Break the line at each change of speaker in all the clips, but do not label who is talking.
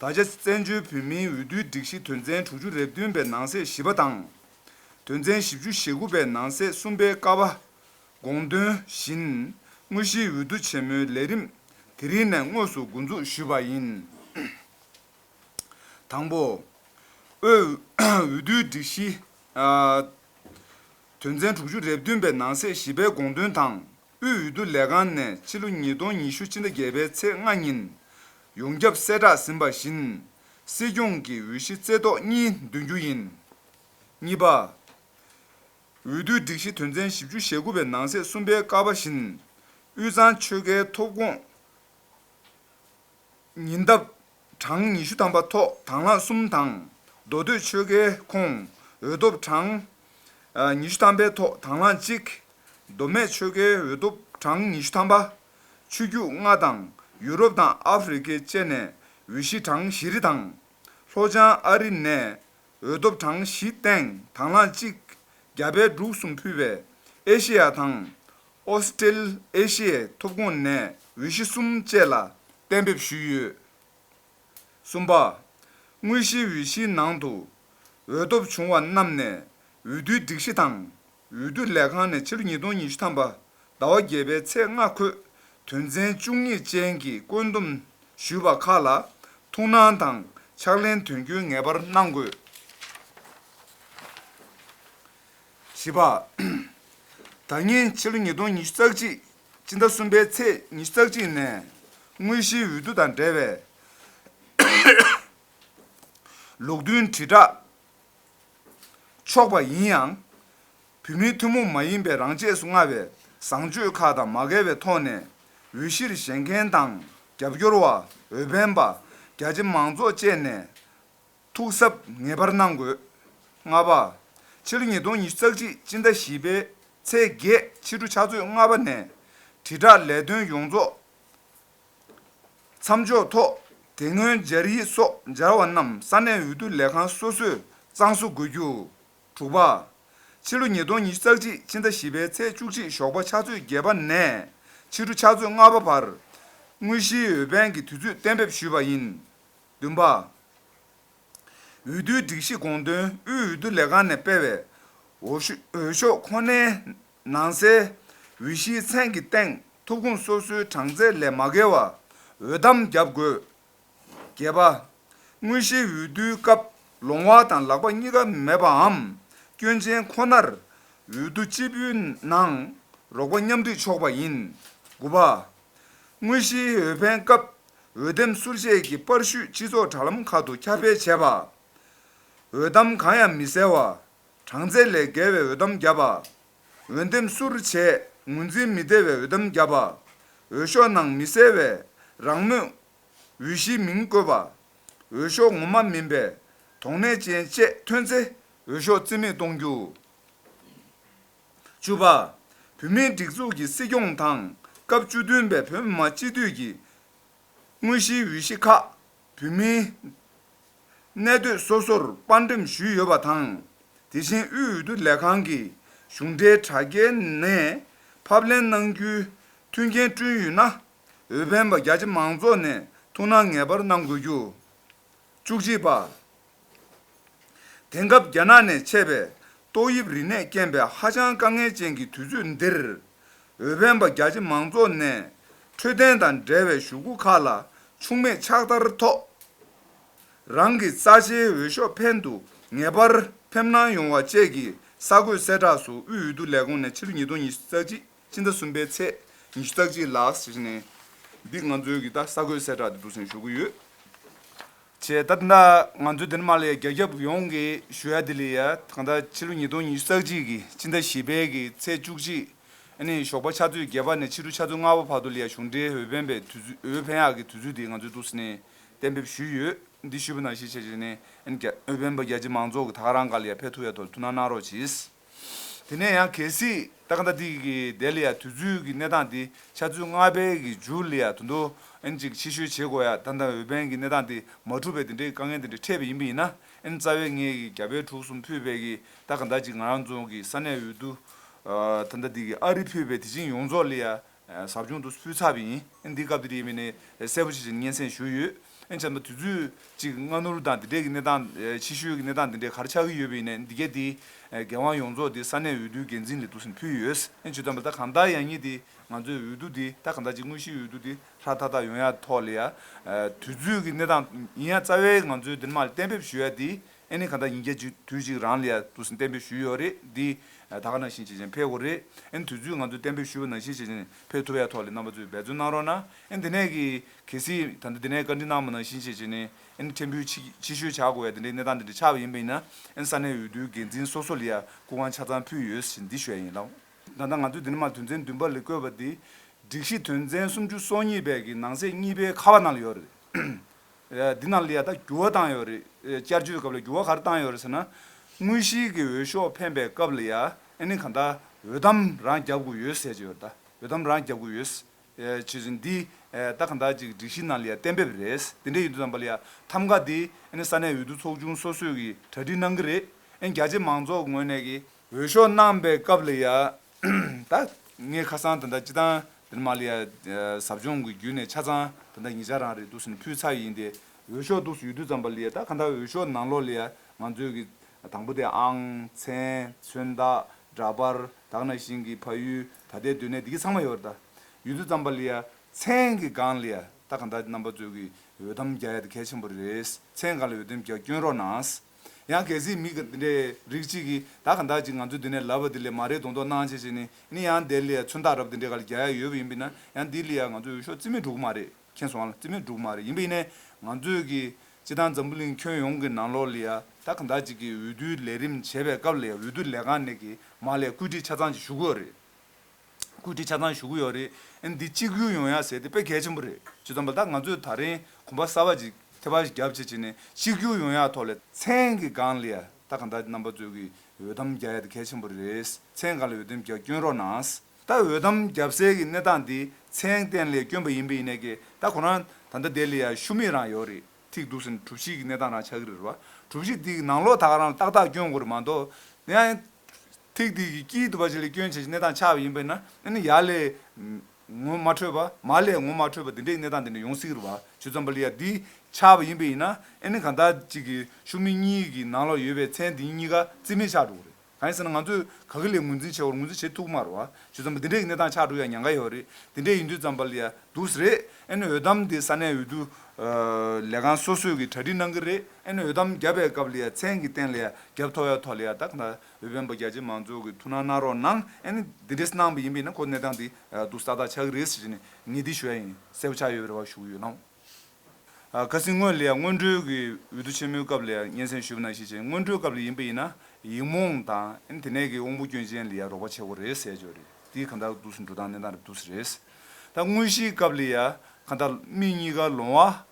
ད་ཆ་བཙན་བྱོལ་བོད་མིའི་འོས་བསྡུའི་སྒྲིག་གཞི་དོན་ཚན་དྲུག་ཅུ་རེ་བདུན་པའི་ནང་གསེས་བཞི་པ་དང། དོན་ཚན་བཞི་བཅུ་ཞེ་དགུ་པའི་ནང་གསེས་གསུམ་པའི་ཀ་བ། དགོངས་དོན་བཞིན། དངོས་གཞིའི་འོས་བསྡུ་ཆེན་མོའི་ལས་རིམ་དེ་རིང་ནས་དངོས་སུ་མགོ་འཛུགས་ཞུས་པ་ཡིན། དང་པོ། འོས་བསྡུའི་སྒྲིག་གཞི། དོན་ཚན་དྲུག་ཅུ་རེ་བདུན་པའི་ནང་གསེས་བཞི་པའི་དགོངས་དོན་དང། དབུས་འོས་བསྡུ་ལས་ཁང་ནས་ཕྱི་ལོ་ཉིས་སྟོང་ཉི་ཤུ་ཕྱི་ཟླ་བརྒྱད་པའི་ཚེས་ལྔ་ཉིན། ཡོངས་ཁྱབ་གསལ་བསྒྲགས་ཟིན་པ་བཞིན། སྲིད་སྐྱོང་གི་འོས་གཞི་རྩེ་བཏོག་གཉིས་འདོན་རྒྱུ་ཡིན། གཉིས་པ། འོས་བསྡུའི་སྒྲིག་གཞི་དོན་ཚན་བཞི་བཅུ་ཞེ་དགུ་པའི་ནང་གསེས་གསུམ་པའི་བཀའ་པ་བཞིན། དབུས་གཙང་ཆོལ་ཁའི་ཐོབ་ཁོངས། ཉིན་རྟ། གྲངས་ཉི་ཤུ་ཐམ་པ་ཐོག་དང་ལྷ་གསུམ་དང། མདོ་སྟོད་ཆོལ་ཁའི་ཁོངས་འོས་ཐོབ་གྲངས། ཉི་ཤུ་ཐམ་པའི་ཐོག་དང་ལྷ་གཅིག། མདོ་སྨད་ཆོལ་ཁའི་འོས་ཐོབ་གྲངས་ཉི་ཤུ་ཐམ་པ། ཆོས་རྒྱུད་ལྔ་དང་ཡུ་རོབ་དང་ཨ་ཧྥི་རི་ཀའི་བཅས་ནས་འོས་གཞི་གྲངས་བཞི་རེ་དང། ལྷོ་བྱང་ཨ་རི་ནས་འོས་ཐོབ་གྲངས་བཞི་སྟེང་དང་ལྷ་གཅིག། རྒྱ་བལ་འབྲུག་གསུམ་ཕུད་པའི་ཨེ་ཤེ་ཡ་དང། ཨོ་སི་ཀྲེ་ཨེ་ཤི་ཡའི་ཐོབ་ཁོངས་ནས་འོས་གཞི་གསུམ་བཅས་ལ་གཏན་འབེབས་ཞུས་ཡོད། གསུམ་པ། དངོས་གཞིའི་འོས་གཞིའི་ནང་དུ། འོས་ཐོབ་བྱུང་བ་རྣམས་ནས་འོས་བསྡུའི་སྒྲིག་གཞི་དང་འོས་བསྡུ་ལས་ཁང་ནས་ཕྱི་ལོ་ཉིས་སྟོང་ཉི་ཤུ་ཐམ་པ་ཟླ་བ་བརྒྱད་པའི་ཚེས་ལྔ་འཁོད་དོན་ཚན་བཅུ་གཉིས་ཅན་གྱི་བཀོད་འདོམས་ཞུས་པ་ཁག་ལ་ཐུགས་སྣང་དང་ཕྱག་ལེན་དོན་འཁྱོལ་ངེས་པར་གནང་དགོས། བཞི་པ། ད་སྔའི་ཕྱི་ལོ་ཉིས་སྟོང་ཉི་ཤུ་རྩ་གཅིག་སྤྱི་ཟླ་གསུམ་པའི་ཚེས་ཉི་ཤུ་རྩ་གཅིག་ནས་དངོས་གཞིའི་འོས་བསྡུ་དང་འབྲེལ་བའི་ལུགས་མཐུན་དྲིལ་བསྒྲགས་ཆོག་པ་ཡིན་ཡང། བུད་མེད་ཐུན་མོང་མ་ཡིན་པའི་རང་ཆས་སུ་མངའ་བའི་བཟང་སྤྱོད་ཁག་དང་མ་འགལ་བའི་ཐོག་ནས་འོས་གཞིར་བཞེངས་མཁན་དང་རྒྱབ་སྐྱོར་བ། འོས་འཕེན་པ། རྒྱ་ཆེ་མང་ཚོགས་བཅས་ནས་ཐུགས་གཟབ་ངེས་པར་གནང་དགོས། ལྔ་པ། ཕྱི་ལོ་ཉིས་སྟོང་ཉི་ཤུ་རྩ་གཅིག་སྤྱི་ཟླ་བཞི་པའི་ཚེས་བརྒྱད་ཕྱི་དྲོ་ཕྱག་ཚོད་ལྔ་པ་ནས། དྲིལ་བསྒྲགས་ལས་དོན་ཡོངས་རྫོགས་མཚམས་འཇོག་ཐོག་དེ་སྔོན་སྦྱར་ཡིག་སོགས་སྦྱར་བ་རྣམས་ས་གནས་འོས་བསྡུ་ལས་ཁང་སོ་སོས་གཙང་བཟོ་དགོས་རྒྱུ། དྲུག་པ། ཕྱི་ལོ་ཉིས་སྟོང་ཉི་ཤུ་རྩ་གཅིག་ཕྱི་ཟླ་བཞི་པའི་ཚེས་བཅུ་གཅིག་ཞོགས་པ་ཕྱག་ཚོད་བརྒྱད་པ་ནས་ཕྱི་དྲོ་ཕྱག་ཚོད་ལྔ་པ་བར། དངོས་གཞིའི་འོས་འཕེན་གྱི་དུས་ཚོད་གཏན་འབེབས་ཞུས་པ་ཡིན། བདུན་པ། འོས་བསྡུའི་སྒྲིག་གཞི་དགོངས་དོན་དབུས་འོས་བསྡུ་ལས་ཁང་ནས་སྤེལ་བའི། འོས་ཤོག་ཁོ་ནའི་ནང་གསལ། འོས་གཞིའི་མཚན་གྱི་སྟེང་ཐོབ་ཁུངས་སོ་སོའི་གྲངས་ཚད་ལས་མ་བརྒལ་བ་འོས་གཏམ་བརྒྱབ་དགོས། བརྒྱད་པ། དངོས་གཞིའི་འོས་བསྡུའི་སྐབས་ལོང་བ་དང་ལག་པ་གཉིས་ཀ་མེད་པའམ་སྐྱོན་ཅན་ཁོ་ནར། འོས་བསྡུ་སྤྱི་པུའི་ནང་རོགས་པ་མཉམ་འདུས་ཆོག་པ་ཡིན། དགུ་པ། དངོས་གཞིའི་འོས་འཕེན་སྐབས་འོས་འདེམས་ཟུར་བཞེས་ཀྱི་པར་བཤུས་སྤྱི་ཚོགས་དྲ་ལམ་ཁག་ཏུ་ཁྱབ་སྤེལ་བྱས་པ། འོས་གཏམ་གང་ཡང་མི་གསལ་བ། གྲངས་ཚད་ལས་བརྒལ་བའི་འོས་གཏམ་བརྒྱབ་པ། འོས་འདེམས་ཟུར་བྱས་ངོས་འཛིན་མི་བདེ་བའི་འོས་གཏམ་བརྒྱབ་པ། འོས་ཤོག་ནང་མི་གསལ་བས་རང་མོས། འོས་གཞིའི་མིང་བཀོད་པ། འོས་ཤོག་ངོ་མ་མིན་པའི་དོགས་གནས་ཅན་བཅས་ཐོན་ཚེ། འོས་ཤོག་རྩིས་མེད་གཏོང་རྒྱུ། བཅུ་པ། བུད་མེད་སྒྲིག་འཛུགས་ཀྱི་སྲིད་སྐྱོང་དང་སྐབས་བཅུ་བདུན་པའི་བོད་མི་མང་སྤྱི་འཐུས་ཀྱི་དངོས་གཞིའི་འོས་གཞི་ཁག་བོད་མིའི་གནས་སྡོད་སོ་སོར་དཔར་འགྲེམས་ཞུས་ཡོད་པ་དང། དེ་བཞིན་དབུས་འོས་བསྡུ་ལས་ཁང་གིས་གཞུང་འབྲེལ་དྲ་རྒྱའི་ནས་ཕབ་ལེན་གནང་རྒྱུའི་མཐུན་རྐྱེན་བསྐྲུན་ཡོད་ན། འོས་འཕེན་པ་རྒྱ་ཆེ་མང་ཚོགས་ནས་ཐུགས་སྣང་ངེས་པར་གནང་དགོས་རྒྱུ། བཅུ་གཅིག་པ། དེང་སྐབས་རྒྱ་ནག་ནས་མཆེད་པའི་ཏོག་དབྱིབས་རིམས་ནད་རྐྱེན་པས་ཧ་ཅང་དཀའ་ངལ་ཅན་གྱི་དུས་ཚོད་འདིར། འོས་འཕེན་པ་རྒྱ་ཆེ་མང་ཚོགས་ནས་འཕྲོད་བསྟེན་དང་འབྲེལ་བའི་ཞུ་སྒོ་ཁག་ལ་འཕྱུགས་མེད་ཕྱག་བསྟར་ཐོག་རང་གི་རྩ་ཆེའི་འོས་ཤོག་འཕེན་དུ་ངེས་པར་ཕེབས་གནང་ཡོང་བ་བཅས་ཀྱི་ས་བགོས་གསལ་བསྒྲགས་སུ་དབུས་འོས་བསྡུ་ལས་ཁུངས་ནས་ཕྱི་ལོ་ཉིས་སྟོང་ཉི་ཤུ་རྩ་གཅིག་སྤྱི་ཟླ་གསུམ་པའི་ཚེས་ཉི་ཤུ་རྩ་གཅིག་ལ་ཞེས་ནན་གྱིས་ང་ཚོའི་གི་ས་བགོས་གསལ་བསྒྲགས་འདི་བསྡུ་སེམས་ཞུ་གི་ཡོད། བྱས། ད་ལྟ་ང་ཚོའི་འདི་ནས་མར་ལེ་རྒྱ་ཁྱབ་ཡོངས་ཀྱི་ཞུ་ཡ་དེ་ལས་ཡ་ཐང་ད་ཕྱི་ལོ་ཉིས་སྟོང་ཉི་ཤུ་རྩ་གཅིག་གི་སྤྱི་ཟླ་བཞི་པའི་གི་ཚེས་བཅུ་གཅིག་ནས་ཞོགས་པ་ཆ་ཚོད་བརྒྱད་པ་ནས་ཕྱི་དྲོ་ཆ་ཚོད་ལྔ་བ་བར་དུ་ལེ་ཡ་གཞུང་འབྲེལ་འོས་འཕེན་པའི་དུས་ཚོད་འོས་འཕེན་ཡག་གི་དུས་ཚོད་དེ་ང་ཚོའི་ཏུའུ་སི་ནས་གཏན་འབེབས་ཞུས་ཡོད་འདི་ཞུས་པ་ནང་བཞིན་བྱས་བྱས་ནས་འོས་འཕེན་པ་རྒྱ་ཆེ་མང་ཚོགས་ཀྱི་དག་རང་ག་ལེ་ཡ་འཕེན་ཐུབ་ཡ་ཐོག་ལ་ཐུགས་སྣང་གནང་རོགས་གྱིས། དེ་ནས་ཡང་གལ་སྲིད་ཏག་ཏག་ཏིག་གིས་ལྡེ་ལི་ཡ་དུས་ཚོད་ཀྱི་གནས་སྟངས་དེ་ཆ་ཚུལ་སྔ་བལ་གྱི་འཇུ་ལི་ཡ་དུ་མདོ་ཨན་ཅིག་ཕྱི་བཤོལ་བྱེད་དགོས་ཡ་ད་ལྟ་འོས་འཕེན་གྱི་གནས་སྟངས་དེ་མ་གྲུབ་པས་དེ་འདྲའི་དཀའ་ངལ་དེ་འདྲ་འཕྲད་པས་ཡིན་པ་ཡིན་ན་ཨན་རྩ་བས་ངེད་ཀྱི་རྒྱ་བལ་དྲུག་གསུམ་ཕུད་བལ་གྱི་ཏག་ག་ད་ཅིག་ང་རང་རྫོང་གི་ས་གནས་འོས་བསྡུ་ད་ལྟ་ཏིག་གིས་ཨ་རི་ཕུད་བལ་དེ་བྱིངས་ཡོངས་རྫོགས་ལི་ཡ་ཟབ་སྦྱོང་དུ་སུས་ཚགས་པའི་ཡིན་འདི་སྐབས་དེ་རེད་མིན་ནི་གསལ་པོ་ཆེ་ཆེར་སྙན་སེང་ཞུ་ཡོད། ཨེ་བྱམས་པ་དུས་ཚོད་ཅིག་སྔ་ནུར་དང་འདི་འདྲས་ཀྱི་གནས་སྟངས་ཕྱི་བཤོལ་གྱི་གནས་སྟངས་འདི་འདྲས་གར་ཆགས་ཀྱི་ཡོད་པས་ནས་འདི་ག་དེ་འགན་དབང་ཡོངས་རྫོགས་དེ་ས་གནས་འོས་བསྡུའི་འགན་འཛིན་ལས་དུ་ཟིན་ཕུལ་ཡོད། ཨེ་བྱོས་དམ་པ་ད་གང་ལྟར་ཡང་ཉིད་དེ་ང་ཚོའི་འོས་བསྡུ་དེ་ད་གང་ལྟར་གྱི་དངོས་གཞིའི་འོས་བསྡུ་དེ་ཧྲ་ཐག་ཐག་ཡོང་ཡ་ཐོག་ལ་ཡ་དུས་ཚོད་ཀྱི་གནས་སྟངས་ཡིན་ཡ་རྩ་བའི་ང་ཚོའི་འདིར་མ་གཏན་འབེབས་ཞུ་ཡ་དེ་ཨེ་ནི་ག་ད་ཡིན་རྒྱལ་གཅིག་དུས་གཅིག་རང་ལིཡ་ཏུ་སིན་གཏན་འབེབས་ཞུས་ཡོད་རེད་འདི་ད་ག་ནང་བཞིན་བྱེད་ཅིང་འཕེལ་དགོས་རེད་ཨེ་ནི་དུས་ཚོད་ང་ཚོས་གཏན་འབེབས་ཞུས་པ་ནང་བཞིན་བྱེད་ཅིང་འཕེལ་ཐུབ་ཡ་ཐོག་ལས་རྣམ་པ་ཚོས་འབད་བརྩོན་གནང་རོགས་ན་ཨེ་ནི་དེ་ནས་གལ་སིད་ད་ནི་དེ་ནས་བཀའ་འདྲི་གནང་པ་ནང་བཞིན་བྱེད་ཅིང་ཨེ་ནི་ཕྲན་བུ་ཕྱི་བཤོལ་བྱ་དགོས་ཡ་དེ་འདྲའི་གནས་སྟངས་དེ་འདྲ་ཆགས་པ་ཡིན་པ་ཡིན་ན་ཨེ་ནི་ས་གནས་འོས་བསྡུའི་འགན་འཛིན་སོ་སོ་ལིཡ་སྐུ་ཁང་ཆ་ཚང་ཕུལ་ཡོད་ཞིང་འདི་ཞོལ་ཡིན་ལ། ད་ལྟ་ང་ཚོས་དེ་ནི་མ་དོན་ཚན་བདུན་པ་ལས་བཀོད་པ་འདི་སྒྲིག་གཞི་དོན་ཚན་སུམ་ཅུ་སོ་གཉིས་པའི་གི་ནང་གསེས་གཉིས་པའི་ཁ་བ་ནང་ལ་ཡོད་རེད། འདི་ནང་ལ་ཡང་དག་འགྱུར་བ་བཏང་ཡོད་རེད། བསྐྱར་བཅོས་སྐབས་ལ་འགྱུར་བ་ག་རེ་བཏང་ཡོད་རེད་ཟེར་ན། དངོས་གཞིའི་གི་འོས་ཤོག་འཕེན་པའི་སྐབས་ལ་ཡང་ཨ་ནི་གང་ལྟར་འོས་གཏམ་རང་རྒྱབ་དགོས་ཡོད་ཟེར་གྱི་ཡོད་རེད་ད། འོས་གཏམ་རང་རྒྱབ་དགོས་ཡོད། ཆོས་ཚུལ་འདི་ལྟ་གང་ལྟར་ཅིག་སྒྲིག་གཞི་ནང་ལ་ཡང་གཏན་འབེབས་རེད། དེ་འདྲའི་ཡིན་དུས་དང་པ་ལ་ཡང་ཐམ་ག་དེ་ཨ་ནི་ས་གནས་འོས་བསྡུ་ཚོགས་ཆུང་སོ་སོས་གི་གྲ་སྒྲིག་གནང་གི་རེད། ཨ་ནི་རྒྱ་ཆེ་མང་ཚོགས་ངོས་ནས་གི། འོས་ཤོག་གནང་པའི་སྐབས་ལ་ཡང་ད་ངས་ཁ་སང་ད་ལྟ་སྤྱི་བཏང་འདིར་མ་ལི་ཡ་ཟབ་སྦྱོང་གི་བརྒྱུད་ནས་ཆ་ཚང་ད་ལྟ་ཉིས་ཆ་རང་རེད་འདུག་ཟིན་ཕུད་ཚར་ཡིན་ཏེ་འོས་ཤོག་འདུག་ཡོད་དུས་ཙམ་པ་ལི་ཡ་ད་ག་འདྲ་འོས་ཤོག་ནང་ལོག་ལི་ཡ་ང་ཚོས་གི་དང་པོ་དེ་ཨང། མཚན། མཚོན་རྟགས། འདྲ་པར། དག་ན་ཤིང་གི་ཕ་ཡུལ་ད་ལྟའི་སྡོད་གནས་འདི་གི་ཚང་མ་ཡོད་རེད་ད། ཡོད་དུས་ཙམ་པ་ལི་ཡ། མཚན་གི་སྒང་ལི་ཡ་ད་ག་འདྲ་རྣམ་པ་ཚོས་གི་འོས་ཐམ་རྒྱ་ཡ་ད་གལ་ཆེན་པོ་རེད་མཚན་གང་ལ་འོས་ཐམ་རྒྱ་བསྐྱོན་རོགས་གནང། ཡང་གལ་སྲིད་མི་འདི་འདྲའི་རིགས་གཅིག་གིས་ད་གང་དག་ཅིག་ང་ཚོའི་འདི་ནས་ལབ་པ་འདི་ལས་མ་རེད་གདོང་ཐོག་སྣང་བྱེད་བྱེད་ནི་ནི་ཡང་འདས་ལི་ཡ་མཚོན་རྟགས་རབས་འདི་འདྲའི་ག་ལ་རྒྱ་ཡ་ཡོད་པ་ཡིན་པས་ན་ཡང་འདི་ལི་ཡ་ང་ཚོའི་འོས་ཤོག་རྩིས་མེད་འགྲོ་གི་མ་རེད་མཁྱེན་སོང་ལ་རྩིས་མེད་འགྲོ་གི་མ་རེད་ཡིན་པས་ནས་ང་ཚོས་གི་སྤྱི་བཏང་འཛམ་བུ་གླིང་ཁྱོན་ཡོངས་ཀྱི་ནང་ལོགས་ལི་ཡ་ད་གང་དག་ཅིག་གིས་འོས་བསྡུའི་ལས་རིམ་བྱེད་པའི་སྐབས་ལི་ཡ་འོས་བསྡུ་ལས་ཁང་ནས་གི་མ་ལས་བཀོད་སྒྲིག་ཆ་ཚང་ཅིག་ཞུ་དགོས་རེད། བཀོད་སྒྲིག་ཆ་ཚང་ཞུ་གི་ཡོད་རེད། འདི་གཅིག་གཡུག་ཡོང་ཡ་ཟེར་དེ་དཔེ་གལ་ཆེན་པོ་རེད། ཇི་ཙམ་པ་ད་ང་ཚོས་ད་རིང་གོམ་པ་གསར་པ་ཅིག་ཐེ་བར་རྒྱབ་བྱེད་བྱེད་ནས་གཅིག་གཡུག་ཡོང་ཡ་ཐོག་ལས། མཚན་གི་སྒང་ལས་ད་གང་ལྟར་རྣམ་པ་རྩོད་ཀི་འོས་དམ་རྒྱ་ཡ་དེ་གལ་ཆེན་པོ་རེད། མཚན་གང་ལས་འོས་དམ་རྒྱ་བསྐྱོན་རོགས་གནང། ད་འོས་དམ་རྒྱབ་སའི་གི་གནས་སྟངས་དེ་མཚན་གཏན་ལས་བསྐྱོན་པ་ཡིན་པས་ཡིན་ནས་ཀི་ད་ཁོ་རང་ད་ལྟ་དེ་ལས་ཡ་ཤུ་མེད་རང་ཡོད་རེད་ཐིག་འདུག་ཟེར་གྲུབ་བྱེད་གི་གནས་སྟངས་རང་ཆགས་གི་རེད་རེད་བ། གྲུབ་བྱེད་དེ་གི་ནང་ལོག་ད་ག་རང་ཏག་ཏག་བསྐྱོན་དགོས་རེད་མ་གཏོགས། ཐིག་ཐིག་གི་དཀྱིལ་དུ་བ་བྱི་ལའི་སྐྱོན་བྱེད་ཀྱི་གནས་དང་ཆ་བ་ཡིན་པས་ན་ནི་ཡྃ་ལས། ངོ་མ་འཕྲོས་པ། མ་ལས་ངོ་མ་འཕྲོས་པ་འདི་འདྲའི་གནས་དང་འདི་འདྲའི་ཡོངས་གཟིགས་རུ་བ་ཆུ་ཙམ་པ་ལི་ཡ་འདིའི་ཆ་བ་ཡིན་པས་ཡིན་ན་ནི་གང་ཟག་གཅིག་གི་ཤུགས་མིག་གཉིས་ཀྱི་ནང་ལ་ཡོད་པའི་མཚན་འདི་གཉིས་ཀ་རྩིས་མེད་ཆགས་འགྲོ་གི་རེད་གང་ཡིན་ཟེར་ན་ང་ཚོས་ག་གི་ལས་ངོས་འཛིན་བྱེད་བར་ངོས་འཛིན་བྱེད་ཐུག་མ་རུ་བ་ཆུ་ཙམ་པ་འདི་འདྲའི་གནས་དང་ཆགས་འགྲོ་ཡ་ཉང་ག་ཡི་བ་རི་འདི་འདྲའི་ཡིན་དུས་ཙམ་པ་ལི་ཡ་འདུག་ཟེར་རེད་ནི་འོས་གཏམ་དེ་ས་གནས་འོས་བསྡུ། ལས་ཁང་སོ་སོས་ཀྱི་གྲ་སྒྲིག་གནང་གི་རེད་ནི་འོས་གཏམ་བརྒྱབ་པའི་སྐབས་ལི་ཡ་མཚན་གྱི་སྟེང་ལི་ཡ་བརྒྱབ་ཐོག་ཡ་ཐོག་ལི་ཡ་དག་ད་བོད་བོན་པོ་རྒྱ་ཆེ་མང་ཚོགས་ཀྱི་ཐུགས་སྣང་གནང་རོགས་གནང་ཨ་ནི་འདི་འདྲའི་གནང་བ་ཡིན་པས་ན་ཁོ་གནས་སྟངས་དེ་སྡུག་ས་དག་ཆགས་ཀྱི་རེད་ཟེར་ནས་ངེས་སྡིག་ཞུ་ཡ་ཡིན་གསལ་པོ་ཆགས་ཡོད་པའི་རེ་བ་ཞུ་གི་ཡོད་ལགས། ཁ་སིང་སྔོན་ལ་ཡང་སྔོན་འགྲོའི་གི་འོས་བསྡུ་ཆེན་མོའི་སྐབས་ལ་ཡང་སྙན་སེང་ཞུས་པ་ནང་བཤད་བྱས་སྔོན་འགྲོའི་སྐབས་ལ་ཡིན་པ་ཡིན་ན་ཡིག་རྨོངས་དང་ཨ་ནི་དེ་ནས་གི་དབང་པོ་སྐྱོན་ཅན་ལ་ཡང་རོགས་པ་བྱེད་དགོས་རེད་ཟེར་ཅོ་རེད་དེ་གང་དག་འདུག་སེ་འགྲོ་སྟངས་གནས་སྟངས་རེད་འདུག་སེ་རེད། ད་དངོས་གཞིའི་སྐབས་ལ་ཡང་གང་དག་མི་གཉིས་ཀ་ལོང་བ་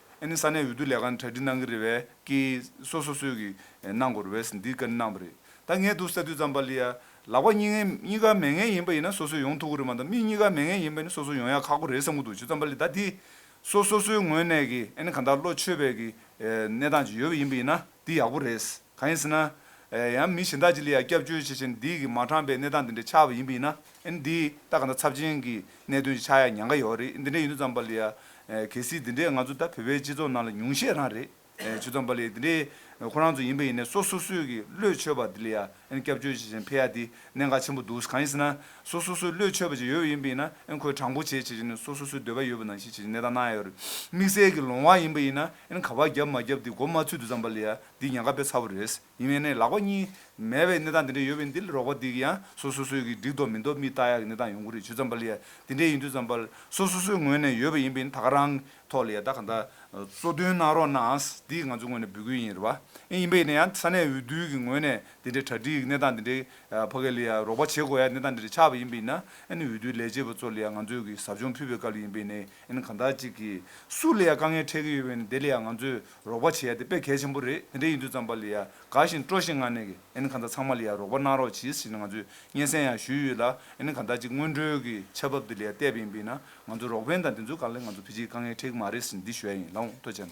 ཨ་ནི་ས་གནས་འོས་བསྡུ་ལས་ཁང་གྲ་སྒྲིག་གནང་གི་རེད་བས་ཀི་སོ་སོ་སོས་ཀི་གནང་དགོས་རེད་བས་འདི་ཀ་ནི་གནང་བ་རེད་ད་ངས་དུ་ས་དུས་ཙམ་པ་ལི་ཡ་ལག་པ་གཉིས་ཀ་མེད་ངེས་ཡིན་པ་ཡིན་ན་སོ་སོས་ཡོང་ཐུག་གི་རེད་མ་ད་མི་གཉིས་ཀ་མེད་ངེས་ཡིན་པ་ཡིན་ན་སོ་སོ་ཡོང་ཡ་ཁག་པོ་རེད་བསམ་གི་འདུག་ཇི་ཙམ་པ་ལི་ད་དི་སོ་སོ་སོའི་ངོས་ནས་ཀི་ཨ་ནི་གང་དག་བློ་ཆོས་བས་ཀི་གནས་སྟངས་ཅིག་ཡོད་པ་ཡིན་པ་ཡིན་ན་དི་ཡག་པོ་རེད། གང་ཡིན་ཟེར་ན། ཡང་མི་གཞན་དག་ཅིག་ལ་ཡང་སྐྱབས་བཅོལ་བྱེད་བཞིན་འདི་གིས་མ་དྲངས་པའི་གནས་སྟངས་འདི་འདྲའི་ཆགས་པ་ཡིན་པ་ཡིན་ན། ཨེ་འདི་ལྟ་ག་འདྲ་ཚབས་ཆེན་གྱི་གནད་དོན་ཞིག་ཆགས་ཡ་ཉན་ག་ཡོད་རེད་འདི་འདྲའི་ཡུན་དུ་ཙམ་པ་ལ་ཡང། གལ་སྲིད་འདི་འདྲས་ང་ཚོ་ད་བོད་པའི་སྤྱི་ཚོགས་ནང་ལ་ཉུང་ཤས་རང་རེད། ཆུ་ཙམ་པ་ལ་ཡང་འདི་འདྲས་ཁོ་རང་ཚོ་ཡིན་པ་ཡིན་ནས་སོ་སོ་སོས་ཀྱི་བློས་ཆོས་པ་འདི་ལ་ཡང་ཨེ་སྐྱབས་བཅོལ་བྱེད་བཞིན་ཕེ་ཡ་འདི་གནད་འགག་ཆེན་པོ་འདུག་གང་ཡིན་ཟེར་ན། སོ་སོ་སོས་བློས་ཆོས་པ་ཅིག་ཡོད་པ་ཡིན་པ་ཡིན་ན་ཨེ་ཁོས་དྲང་པོ་བྱས་བྱས་བྱས་ནས་སོ་སོ་སོས་འདོད་པ་ཡོད་པ་ནང་བཞིན་བྱས་བྱས་ནས་གནས་སྟངས་གནང་ཡ་ཡོད་རེད་དམིགས་བསལ་གྱི་ལོང་བ་ཡིན་པ་ཡིན་ན་ཨེ་ག་བ་བརྒྱབ་མ་བརྒྱབ་འདི་མགོ་མ་ཚུད་དུ་ཙམ་པ་ལ་ཡང་འདི་ཉག་ག་པའི་ཚ་བོ་རེད། ཡིན་ནའི་ནས་ལག་པ་གཉིས། མེད་པའི་གནས་སྟངས་འདི་འདྲ་ཡོད་པས་འདི་ལ་རོགས་པ་འདི་གི་ཡང་སོ་སོ་སོས་ཀྱིས་འགྲིག་འདོག་མི་འདོག་མི་བལྟ་ཡག་གི་གནས་སྟངས་ཡོང་གི་རེད་ཇུ་ཙམ་པ་ལ་ཡང་འདི་འདྲས་ཡིན་དུས་ཙམ་པ་ལ་སོ་སོ་སོའི་ངོས་ནས་ཡོད་པ་ཡིན་པས་ད་ག་རང་གི་ཐོག་ལ་ཡང་ད་ག་ད་གཙོ་དོན་གནང་རོགས་གནང་འདི་ང་ཚོའི་ངོས་ནས་འབུལ་དགོས་ཡིན་རེད་བ་ཨེ་ཡིན་པས་ཡིན་ན་ཡང་ས་གནས་འོས་བསྡུ་གི་ངོས་ནས་འདི་འདྲས་གྲ་སྒྲིག་གི་གནས་སྟངས་འདི་འདྲས་བ་ག་ལ་ཡང་རོགས་པ་བྱེད་དགོས་ཡག་གི་གནས་སྟངས་འདི་འདྲས་ཆགས་པ་ཡིན་པས་ཡིན་ན་ཨེ་ནི་འོས་བསྡུའི་ལས་བྱེད་པ་ཚོ་ལ་ཡང་ང་ཚོས་ཀྱིས་ཟབ་སྦྱོང་ཕུལ་བའི་སྐབས་ལ་ཡིན་པས་ནས་ཨེ་ནི་གང་ད་ཅིག་གིས་སུ་ལ་ཡང་དཀའ་ངལ་འཕྲད་ཀྱི་ཡོད་པས་ནས་དེ་ལ་ཡང་ང་ཚོས་རོགས་པ་བྱེད་ཡ་དེ་དཔེ་གལ་ཆེན་པོ་རེད་དེ་འདྲ་ཡིན་དུས་ཙམ་པ་ལི་ཡ་དགའ་ཞིང་སྤྲོ་ཞིང་ང་ནས་གི་ཨན་ག་འདྲ་ཚང་མ་ལི་ཡ་རོགས་པ་གནང་རོགས་གྱིས་ཞེས་ང་ཚོས་སྙན་སེང་ཡང་ཞུས་ཡོད་ལ་ཨན་ག་འདྲ་གཅིག་སྔོན་འགྲོའི་གི་ཆ་བབ་དེ་ལི་ཡ་བལྟས་པ་ཡིན་པས་ན་ང་ཚོ་རོགས་ཕན་དང་དེ་ཚོའི་ག་ལེ་ང་ཚོ་བྷི་ཇིའི་དཀའ་ངལ་ཁྲེག་མ་རེད་ཟེར་འདི་ཞོལ་ཡིན་ལ་འོང་ལྟོས་བྱས་ན།